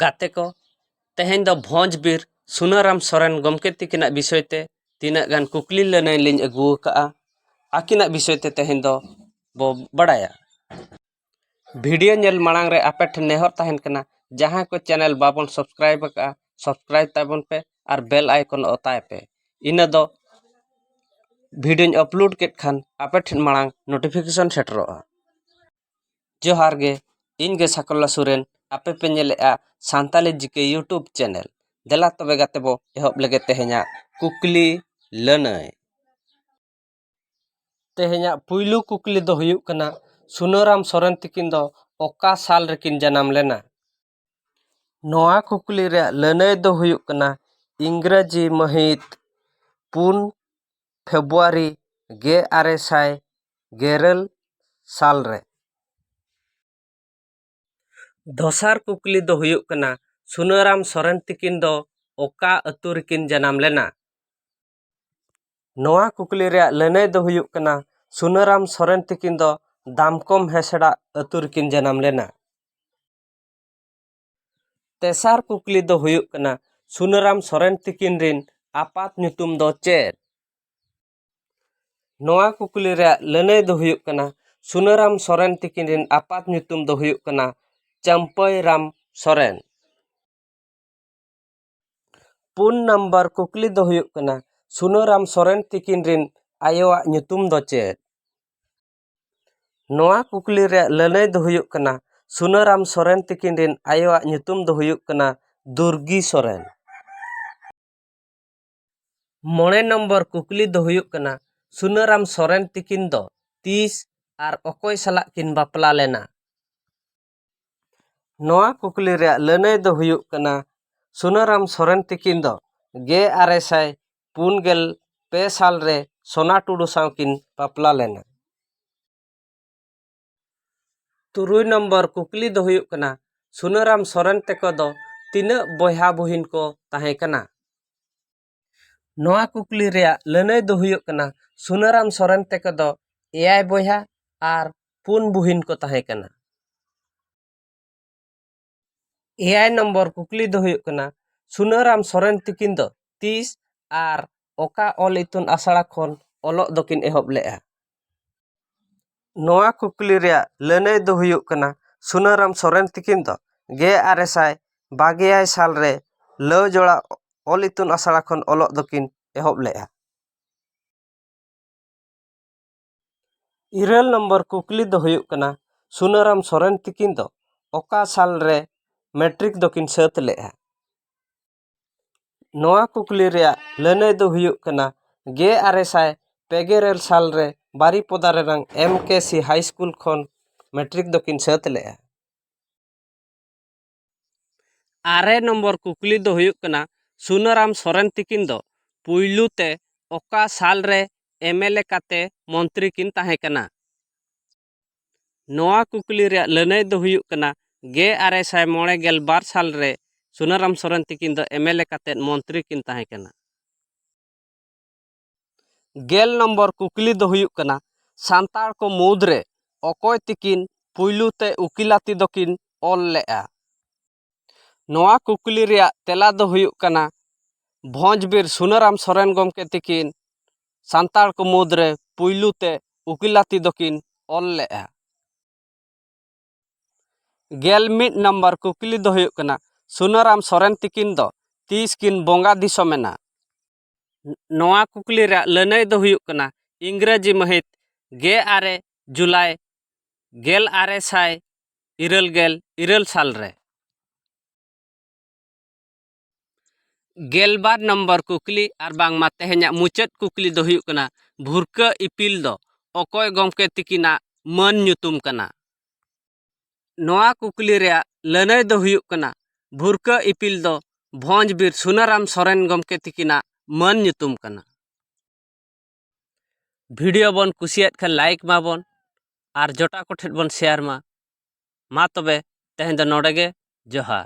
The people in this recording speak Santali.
ᱜᱟᱛᱮ ᱠᱚ ᱛᱮᱦᱮᱧ ᱫᱚ ᱵᱷᱚᱸᱡᱽ ᱵᱤᱨ ᱥᱩᱱᱟᱹᱨᱟᱢ ᱥᱚᱨᱮᱱ ᱜᱚᱢᱠᱮ ᱛᱤᱠᱤᱱᱟᱜ ᱵᱤᱥᱚᱭ ᱛᱮ ᱛᱤᱱᱟᱹᱜ ᱜᱟᱱ ᱠᱩᱠᱞᱤ ᱞᱟᱹᱱᱟᱹᱭ ᱞᱤᱧ ᱟᱹᱜᱩ ᱟᱠᱟᱫᱼᱟ ᱟᱹᱠᱤᱱᱟᱜ ᱵᱤᱥᱚᱭ ᱛᱮ ᱛᱮᱦᱮᱧ ᱫᱚ ᱵᱚ ᱵᱟᱲᱟᱭᱟ ᱵᱷᱤᱰᱤᱭᱳ ᱧᱮᱞ ᱢᱟᱲᱟᱝ ᱨᱮ ᱟᱯᱮ ᱴᱷᱮᱱ ᱱᱮᱦᱚᱨ ᱛᱟᱦᱮᱱ ᱠᱟᱱᱟ ᱡᱟᱦᱟᱸᱭ ᱠᱚ ᱪᱮᱱᱮᱞ ᱵᱟᱵᱚᱱ ᱥᱟᱵᱥᱠᱨᱟᱭᱤᱵᱽ ᱟᱠᱟᱫᱼᱟ ᱥᱟᱵᱥᱠᱨᱟᱭᱤᱵᱽ ᱛᱟᱵᱚᱱ ᱯᱮ ᱟᱨ ᱵᱮᱞ ᱟᱭᱠᱚᱱ ᱚᱛᱟᱭ ᱯᱮ ᱤᱱᱟᱹ ᱫᱚ ᱵᱷᱤᱰᱤᱭᱳᱧ ᱟᱯᱞᱳᱰ ᱠᱮᱫ ᱠᱷᱟᱱ ᱟᱯᱮ ᱴᱷᱮᱱ ᱢᱟᱲᱟᱝ ᱱᱳᱴᱤᱯᱷᱤᱠᱮᱥᱚᱱ ᱥᱮᱴᱮᱨᱚᱜᱼᱟ ᱡᱚᱦᱟᱨ ᱜᱮ ᱤᱧ ᱜᱮ ᱥᱟᱠᱚᱞᱞᱟ ᱥᱚᱨᱮᱱ ᱟᱯᱮ ᱯᱮ ᱧᱮᱞᱮᱫᱼᱟ Santali G K YouTube channel ᱫᱮᱞᱟ ᱛᱚᱵᱮ ᱜᱟᱛᱮ ᱵᱚᱱ ᱮᱦᱚᱵ ᱞᱮᱜᱮ ᱛᱮᱦᱮᱧᱟᱜ ᱠᱩᱠᱞᱤ ᱞᱟᱹᱱᱟᱹᱭ ᱛᱮᱦᱮᱧᱟᱜ ᱯᱩᱭᱞᱩ ᱠᱩᱠᱞᱤ ᱫᱚ ᱦᱩᱭᱩᱜ ᱠᱟᱱᱟ ᱥᱩᱱᱟᱹᱨᱟᱢ ᱥᱚᱨᱮᱱ ᱛᱟᱹᱠᱤᱱ ᱫᱚ ᱚᱠᱟ ᱥᱟᱞ ᱨᱮᱠᱤᱱ ᱡᱟᱱᱟᱢ ᱞᱮᱱᱟ ᱱᱚᱣᱟ ᱠᱩᱠᱞᱤ ᱨᱮᱭᱟᱜ ᱞᱟᱹᱱᱟᱹᱭ ᱫᱚ ᱦᱩᱭᱩᱜ ᱠᱟᱱᱟ ᱤᱝᱨᱟᱹᱡᱤ ᱢᱟᱹᱦᱤᱛ ᱯᱩᱱ ᱯᱷᱮᱵᱽᱨᱩᱣᱟᱨᱤ ᱜᱮ ᱟᱨᱮ ᱥᱟᱭ ᱜᱮᱨᱟᱹᱞ ᱥᱟᱞ ᱨᱮ ᱫᱚᱥᱟᱨ ᱠᱩᱠᱞᱤ ᱫᱚ ᱦᱩᱭᱩᱜ ᱠᱟᱱᱟ ᱥᱩᱱᱟᱹᱨᱟᱢ ᱥᱚᱨᱮᱱ ᱛᱤᱠᱤᱱ ᱫᱚ ᱚᱠᱟ ᱟᱹᱛᱩ ᱨᱮᱠᱤᱱ ᱡᱟᱱᱟᱢ ᱞᱮᱱᱟ ᱱᱚᱣᱟ ᱠᱩᱠᱞᱤ ᱨᱮᱭᱟᱜ ᱞᱟᱹᱱᱟᱹᱭ ᱫᱚ ᱦᱩᱭᱩᱜ ᱠᱟᱱᱟ ᱥᱩᱱᱟᱹᱨᱟᱢ ᱥᱚᱨᱮᱱ ᱛᱤᱠᱤᱱ ᱫᱚ ᱫᱟᱢᱠᱚᱢ ᱦᱮᱥᱲᱟ ᱟᱹᱛᱩ ᱨᱮᱠᱤᱱ ᱡᱟᱱᱟᱢ ᱞᱮᱱᱟ ᱛᱮᱥᱟᱨ ᱠᱩᱠᱞᱤ ᱫᱚ ᱦᱩᱭᱩᱜ ᱠᱟᱱᱟ ᱥᱩᱱᱟᱹᱨᱟᱢ ᱥᱚᱨᱮᱱ ᱛᱤᱠᱤᱱ ᱨᱤᱱ ᱟᱯᱟᱛ ᱧᱩᱛᱩᱢ ᱫᱚ ᱪᱮᱫ ᱱᱚᱣᱟ ᱠᱩᱠᱞᱤ ᱨᱮᱭᱟᱜ ᱞᱟᱹᱱᱟᱹᱭ ᱫᱚ ᱦᱩᱭᱩᱜ ᱠᱟᱱᱟ ᱥᱩᱱᱟᱹᱨᱟᱢ ᱥᱚᱨᱮᱱ ᱛᱤᱠᱤᱱ ᱨᱤᱱ ᱟᱯᱟᱛ ᱧᱩᱛᱩᱢ ᱫᱚ ᱦᱩᱭᱩᱜ ᱠᱟᱱᱟ ᱪᱟᱹᱢᱯᱟᱹᱭ ᱨᱟᱢ ᱥᱚᱨᱮᱱ ᱯᱩᱱ ᱱᱟᱢᱵᱟᱨ ᱠᱩᱠᱞᱤ ᱫᱚ ᱦᱩᱭᱩᱜ ᱠᱟᱱᱟ ᱥᱩᱱᱟᱹᱨᱟᱢ ᱥᱚᱨᱮᱱ ᱛᱤᱠᱤᱱ ᱨᱤᱱ ᱟᱭᱳᱣᱟᱜ ᱧᱩᱛᱩᱢ ᱫᱚ ᱪᱮᱫ ᱱᱚᱣᱟ ᱠᱩᱠᱞᱤ ᱨᱮᱭᱟᱜ ᱞᱟᱹᱱᱟᱹᱭ ᱫᱚ ᱦᱩᱭᱩᱜ ᱠᱟᱱᱟ ᱥᱩᱱᱟᱹᱨᱟᱢ ᱥᱚᱨᱮᱱ ᱛᱤᱠᱤᱱ ᱨᱮᱱ ᱟᱭᱳᱣᱟᱜ ᱧᱩᱛᱩᱢ ᱫᱚ ᱦᱩᱭᱩᱜ ᱠᱟᱱᱟ ᱫᱩᱨᱜᱤ ᱥᱚᱨᱮᱱ ᱢᱚᱬᱮ ᱱᱚᱢᱵᱚᱨ ᱠᱩᱠᱞᱤ ᱫᱚ ᱦᱩᱭᱩᱜ ᱠᱟᱱᱟ ᱥᱩᱱᱟᱹᱨᱟᱢ ᱥᱚᱨᱮᱱ ᱛᱤᱠᱤᱱ ᱫᱚ ᱛᱤᱥ ᱟᱨ ᱚᱠᱚᱭ ᱥᱟᱞᱟᱜ ᱠᱤᱱ ᱵᱟᱯᱞᱟ ᱞᱮᱱᱟ ᱱᱚᱣᱟ ᱠᱩᱠᱞᱤ ᱨᱮᱭᱟᱜ ᱞᱟᱹᱱᱟᱹᱭ ᱫᱚ ᱦᱩᱭᱩᱜ ᱠᱟᱱᱟ ᱥᱩᱱᱟᱹᱨᱟᱢ ᱥᱚᱨᱮᱱ ᱛᱤᱠᱤᱱ ᱫᱚ ᱜᱮ ᱟᱨᱮ ᱥᱟᱭ ᱯᱩᱱ ᱜᱮᱞ ᱯᱮ ᱥᱟᱞ ᱨᱮ ᱥᱳᱱᱟ ᱴᱩᱰᱩ ᱥᱟᱶ ᱠᱤᱱ ᱵᱟᱯᱞᱟ ᱞᱮᱱᱟ ᱛᱩᱨᱩᱭ ᱱᱚᱢᱵᱚᱨ ᱠᱩᱠᱞᱤ ᱫᱚ ᱦᱩᱭᱩᱜ ᱠᱟᱱᱟ ᱥᱩᱱᱟᱹᱨᱟᱢ ᱥᱚᱨᱮᱱ ᱛᱮᱠᱚ ᱫᱚ ᱛᱤᱱᱟᱹᱜ ᱵᱚᱭᱦᱟ ᱵᱩᱦᱤᱱ ᱠᱚ ᱛᱟᱦᱮᱸ ᱠᱟᱱᱟ ᱱᱚᱣᱟ ᱠᱩᱠᱞᱤ ᱨᱮᱭᱟᱜ ᱞᱟᱹᱱᱟᱹᱭ ᱫᱚ ᱦᱩᱭᱩᱜ ᱠᱟᱱᱟ ᱥᱩᱱᱟᱹᱨᱟᱢ ᱥᱚᱨᱮᱱ ᱛᱮᱠᱚ ᱫᱚ ᱮᱭᱟᱭ ᱵᱚᱭᱦᱟ ᱟᱨ ᱯᱩᱱ ᱵᱩᱦᱤᱱ ᱠᱚ ᱛᱟᱦᱮᱸ ᱠᱟᱱᱟ ᱮᱭᱟᱭ ᱱᱚᱢᱵᱚᱨ ᱠᱩᱠᱞᱤ ᱫᱚ ᱦᱩᱭᱩᱜ ᱠᱟᱱᱟ ᱥᱩᱱᱟᱹᱨᱟᱢ ᱥᱚᱨᱮᱱ ᱛᱤᱠᱤᱱ ᱫᱚ ᱛᱤᱥ ᱟᱨ ᱚᱠᱟ ᱚᱞ ᱤᱛᱩᱱ ᱟᱥᱲᱟ ᱠᱷᱚᱱ ᱚᱞᱚᱜ ᱫᱚᱠᱤᱱ ᱮᱦᱚᱵ ᱞᱮᱫᱼᱟ ᱱᱚᱣᱟ ᱠᱩᱠᱞᱤ ᱨᱮᱭᱟᱜ ᱞᱟᱹᱱᱟᱹᱭ ᱫᱚ ᱦᱩᱭᱩᱜ ᱠᱟᱱᱟ ᱥᱩᱱᱟᱹᱨᱟᱢ ᱥᱚᱨᱮᱱ ᱛᱤᱠᱤᱱ ᱫᱚ ᱜᱮ ᱟᱨᱮ ᱥᱟᱭ ᱵᱟᱜᱮ ᱮᱭᱟᱭ ᱥᱟᱞ ᱨᱮ ᱞᱟᱹᱣ ᱡᱚᱲᱟ ᱚᱞ ᱤᱛᱩᱱ ᱟᱥᱲᱟ ᱠᱷᱚᱱ ᱚᱞᱚᱜ ᱫᱚᱠᱤᱱ ᱮᱦᱚᱵ ᱞᱮᱫᱼᱟ ᱤᱨᱟᱹᱞ ᱱᱚᱢᱵᱚᱨ ᱠᱩᱠᱞᱤ ᱫᱚ ᱦᱩᱭᱩᱜ ᱠᱟᱱᱟ ᱥᱩᱱᱟᱹᱨᱟᱢ ᱥᱚᱨᱮᱱ ᱛᱤᱠᱤᱱ ᱫᱚ ᱚᱠᱟ ᱥᱟᱞ ᱨᱮ ᱢᱮᱴᱨᱤᱠ ᱫᱚᱠᱤᱱ ᱥᱟᱹᱛ ᱞᱮᱫᱼᱟ ᱱᱚᱣᱟ ᱠᱩᱠᱞᱤ ᱨᱮᱭᱟᱜ ᱞᱟᱹᱱᱟᱹᱭ ᱫᱚ ᱦᱩᱭᱩᱜ ᱠᱟᱱᱟ ᱜᱮ ᱟᱨᱮ ᱥᱟᱭ ᱯᱮ ᱜᱮ ᱤᱨᱟᱹᱞ ᱥᱟᱞ ᱨᱮ ᱵᱟᱨᱤᱯᱚᱫᱟ ᱨᱮᱱᱟᱝ M K C high school ᱠᱷᱚᱱ ᱢᱮᱴᱨᱤᱠ ᱫᱚᱠᱤᱱ ᱥᱟᱹᱛ ᱞᱮᱫᱼᱟ ᱟᱨᱮ ᱱᱚᱢᱵᱚᱨ ᱠᱩᱠᱞᱤ ᱫᱚ ᱦᱩᱭᱩᱜ ᱠᱟᱱᱟ ᱥᱩᱱᱟᱹᱨᱟᱢ ᱥᱚᱨᱮᱱ ᱛᱤᱠᱤᱱ ᱫᱚ ᱯᱩᱭᱞᱩ ᱛᱮ ᱚᱠᱟ ᱥᱟᱞ ᱨᱮ ᱮᱢ ᱮᱞ ᱮ ᱠᱟᱛᱮᱫ ᱢᱚᱱᱛᱨᱤ ᱠᱤᱱ ᱛᱟᱦᱮᱸ ᱠᱟᱱᱟ ᱱᱚᱣᱟ ᱠᱩᱠᱞᱤ ᱨᱮᱭᱟᱜ ᱞᱟᱹᱱᱟᱹᱭ ᱫᱚ ᱦᱩᱭᱩᱜ ᱠᱟᱱᱟ ᱜᱮ ᱟᱨᱮ ᱥᱟᱭ ᱢᱚᱬᱮ ᱜᱮᱞ ᱵᱟᱨ ᱥᱟᱞ ᱨᱮ ᱥᱩᱱᱟᱹᱨᱟᱢ ᱥᱚᱨᱮᱱ ᱛᱤᱠᱤᱱ ᱫᱚ ᱮᱢ ᱮᱞ ᱮ ᱠᱟᱛᱮᱫ ᱢᱚᱱᱛᱨᱤ ᱠᱤᱱ ᱛᱟᱦᱮᱸ ᱠᱟᱱᱟ ᱜᱮᱞ ᱱᱚᱢᱵᱚᱨ ᱠᱩᱠᱞᱤ ᱫᱚ ᱦᱩᱭᱩᱜ ᱠᱟᱱᱟ ᱥᱟᱱᱛᱟᱲ ᱠᱚ ᱢᱩᱫᱽᱨᱮ ᱚᱠᱚᱭ ᱛᱤᱠᱤᱱ ᱯᱩᱭᱞᱩ ᱛᱮ ᱩᱠᱤᱞᱟᱹᱛᱤ ᱫᱚᱠᱤᱱ ᱚᱞ ᱞᱮᱫᱼᱟ ᱱᱚᱣᱟ ᱠᱩᱠᱞᱤ ᱨᱮᱭᱟᱜ ᱛᱮᱞᱟ ᱫᱚ ᱦᱩᱭᱩᱜ ᱠᱟᱱᱟ ᱵᱷᱚᱸᱡᱽ ᱵᱤᱨ ᱥᱩᱱᱟᱹᱨᱟᱢ ᱥᱚᱨᱮᱱ ᱜᱚᱢᱠᱮ ᱛᱤᱠᱤᱱ ᱥᱟᱱᱛᱟᱲ ᱠᱚ ᱢᱩᱫᱽ ᱨᱮ ᱯᱩᱭᱞᱩ ᱛᱮ ᱩᱠᱤᱞᱟᱹᱛᱤ ᱫᱚᱠᱤᱱ ᱚᱞ ᱞᱮᱫᱼᱟ ᱜᱮᱞ ᱢᱤᱫ ᱱᱟᱢᱵᱟᱨ ᱠᱩᱠᱞᱤ ᱫᱚ ᱦᱩᱭᱩᱜ ᱠᱟᱱᱟ ᱥᱩᱱᱟᱹᱨᱟᱢ ᱥᱚᱨᱮᱱ ᱛᱤᱠᱤᱱ ᱫᱚ ᱛᱤᱥ ᱠᱤᱱ ᱵᱚᱸᱜᱟ ᱫᱤᱥᱚᱢ ᱮᱱᱟ ᱱᱚᱣᱟ ᱠᱩᱠᱞᱤ ᱨᱮᱭᱟᱜ ᱞᱟᱹᱱᱟᱹᱭ ᱫᱚ ᱦᱩᱭᱩᱜ ᱠᱟᱱᱟ ᱤᱝᱨᱟᱹᱡᱤ ᱢᱟᱹᱦᱤᱛ ᱜᱮ ᱟᱨᱮ ᱡᱩᱞᱟᱭ ᱜᱮᱞ ᱟᱨᱮ ᱥᱟᱭ ᱤᱨᱟᱹᱞ ᱜᱮᱞ ᱤᱨᱟᱹᱞ ᱥᱟᱞ ᱨᱮ ᱜᱮᱞᱵᱟᱨ ᱱᱚᱢᱵᱚᱨ ᱠᱩᱠᱞᱤ ᱟᱨ ᱵᱟᱝᱢᱟ ᱛᱮᱦᱮᱧᱟᱜ ᱢᱩᱪᱟᱹᱫ ᱠᱩᱠᱞᱤ ᱫᱚ ᱦᱩᱭᱩᱜ ᱠᱟᱱᱟ ᱵᱷᱩᱨᱠᱟᱹ ᱤᱯᱤᱞ ᱫᱚ ᱚᱠᱚᱭ ᱜᱚᱢᱠᱮ ᱛᱤᱠᱤᱱᱟᱜ ᱢᱟᱹᱱ ᱧᱩᱛᱩᱢ ᱠᱟᱱᱟ ᱱᱚᱣᱟ ᱠᱩᱠᱞᱤ ᱨᱮᱭᱟᱜ ᱞᱟᱹᱱᱟᱹᱭ ᱫᱚ ᱦᱩᱭᱩᱜ ᱠᱟᱱᱟ ᱵᱷᱩᱨᱠᱟᱹ ᱤᱯᱤᱞ ᱫᱚ ᱵᱷᱚᱸᱡᱽ ᱵᱤᱨ ᱥᱩᱱᱟᱹᱨᱟᱢ ᱥᱚᱨᱮᱱ ᱜᱚᱢᱠᱮ ᱛᱤᱠᱤᱱᱟᱜ ᱢᱟᱹᱱ ᱧᱩᱛᱩᱢ ᱠᱟᱱᱟ ᱵᱷᱤᱰᱤᱭᱳ ᱵᱚᱱ ᱠᱩᱥᱤᱭᱟᱫ ᱠᱷᱟᱱ ᱞᱟᱭᱤᱠ ᱢᱟᱵᱚᱱ ᱟᱨ ᱡᱚᱴᱟᱣ ᱠᱚᱴᱷᱮᱱ ᱵᱚᱱ ᱥᱮᱭᱟᱨ ᱢᱟ ᱢᱟ ᱛᱚᱵᱮ ᱛᱮᱦᱮᱧ ᱫᱚ ᱱᱚᱰᱮ ᱜᱮ ᱡᱚᱦᱟᱨ